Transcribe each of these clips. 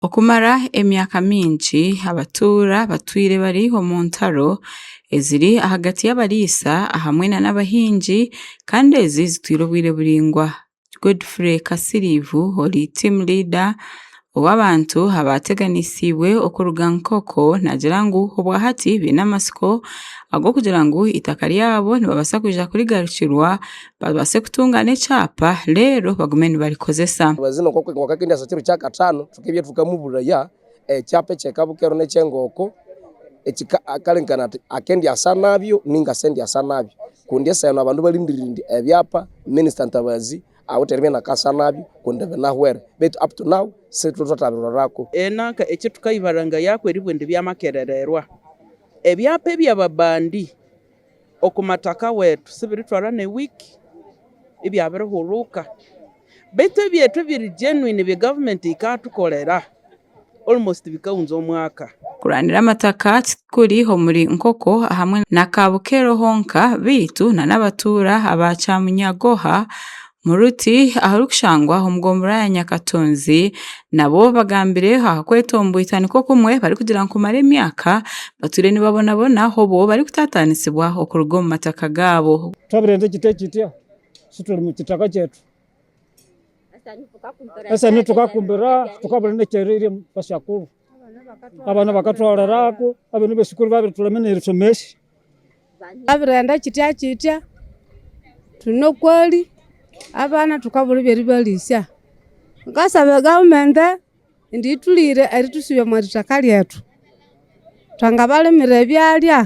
Okumara emyaka mingi, abatuura batwire bari omu ntaro eziri ahagati y'abariisa ahamwe nana abahingi kandi ezi zitwire obwire buraingwa. Godfrey Kasiriivu ori team leader ow'abantu abaateganisiibwe okuruga Nkoko naagira ngu obwahati baine amatsiko ag'okugira ngu eitaka ryabo nibabaasa kwija kurigarukirwa babaase kutunga n'ekyapa reero bagume nibakikozesa. Omwezi nikwo kwonka ku ndaasa ekiro kya kataano kyonka ebyoturuka mu buraya ekyapa ekyeeka bukero n'ekyengooko kare nkaba nti akendaasa nabyo ninga sendaasa nabyo kundi esaha enu abantu barindiire ngu ebyapa minister ntabazi ahabw'okuba tibariyo benda kukoresa nabyo kundi nabyo binahwera beitu up to now sitwe twatabiroraako. Nanka ekitukaibarangayo ahabw'okuba eribwe nibyo amakerererwa ebyapa ebyababandi Okumataka wetu sibiritwara ne week ebya birihuruka baitu ebyetu ebiri genuine ebya government ekatukorera almost bikahunza omwaka. Kurwanira amataka tikuri omuri Nkoko ahamwe na Kabukero honka baitu na nabatuura aba Kyamunyagoha Muruti aharikushangwa omu gombolola ya Nyakatunzi nabo bagambire aha kwetomboitsa nikwo kumwe barikugira ngu kumara emyaka batwire nibabonabona hobwo barikutataanisibwa okuruga omu mataka gaabo. Twabirenze kityo kityo shi turi mu kitaka kyaitu. Esani tukakumbira tukabura n'ekyeririire bashakuru. Abana bakatwarira aho, ab'enyima eshukuru babire turemire nirishomesa. Abirenda kitya kitya twine oku eri abaana tukabura ebi eribaritsya kwonka nsabe gavumenti ngu ituriire eritusibe omu itaka ryetwe twangabarimira ebyarya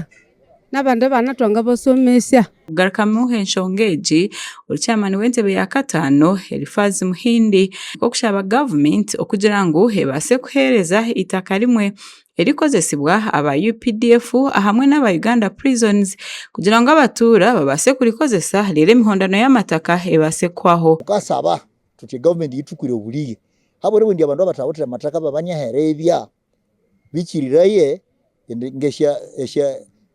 nabandi baana twangabasomesya. Kugarukamu enshonga egi, ori chairman w'entebe ya kataano Elifaazi Muhindi, arikushaba gavumenti kugira ngu ebaase kuheereza eitaka rimwe erikozesibwa aba updf ahamwe n'aba Uganda Prisons kugira ngu abatuura babaase kurikozesa reero emihondano y'amataka ebaase kuhwaho. Tukasaba tuti gavumenti yitukwire oburiri ahabw'oreeba obundi abantu abatahotire amataka babanyahereebya bikiriraye ngu esha esha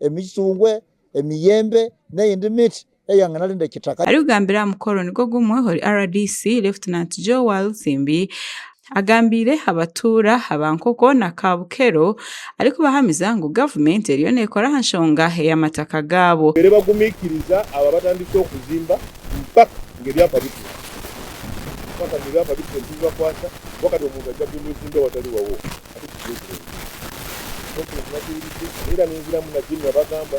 emicungwe, emiyembe n'eyindi miti eyangana arinda ekitaka. Arikugambira aha mukoro nigwo gumwe ohuri rdc Lieutenant Joe Walusimbi agambiire abatuura aba Nkoko na Kabukero arikubahamiza ngu gavumenti eriyo nekora aha nshonga eyamataka gaabo. Babaire bagumikiriza aba batandise okuzimba mpaka ngu ebyapa bitwe. Mpaka ngu ebyapa bitwe nibibakwasa, kuba kati omuntu aija kuhindura obuziimbe awatari wawe. abarikugira obureebi. Nk'oku Entumwa Paulusi abaire anunziramu na Jim yabagamba,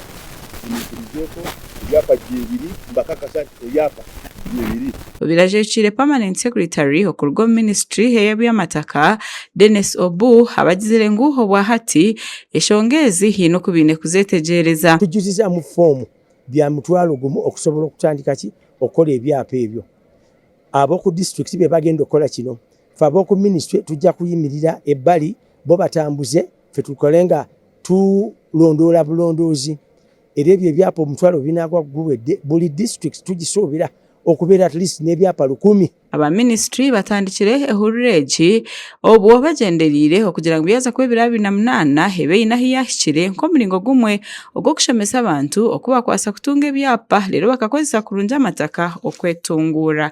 Munyikirizeeko, ebyapa byebiri mbakakasa nti ebyapa byebiri. Obirajeekiire Permanent Secretary okuruga omu Ministry ey'eby'amataka, Dennis Obuu, abagizire ngu obwa hati eshonga ezi haine oku baine kuzeetegyereza. Kujuzizaamu foomu bya mutwaro gumu okusobola okutandika ki okukora ebyapa ebyo. Ab'oku disiturikiti be bagenda okukora kino. Ffe ab'oku minisitule tugya kuyimirira ebbali bo batambuze, ffe tukole nga tulondoola bulondoozi era ebyo ebyapa omutwaro binaaba guwedde buri disiturikiti tugisuubira okubeera at least n'ebyapa rukumi. Aba minisitule batandikire ehurura egi obwo bagyendereire okugira ngu yaaza kuba ebiro abiri na munaana ebe eine ahu yaahikire nk'omuringo gumwe ogw'okushemesa abantu oku bakwasa kutunga ebyapa reero bakakozesa kurungi amataka okwetunguura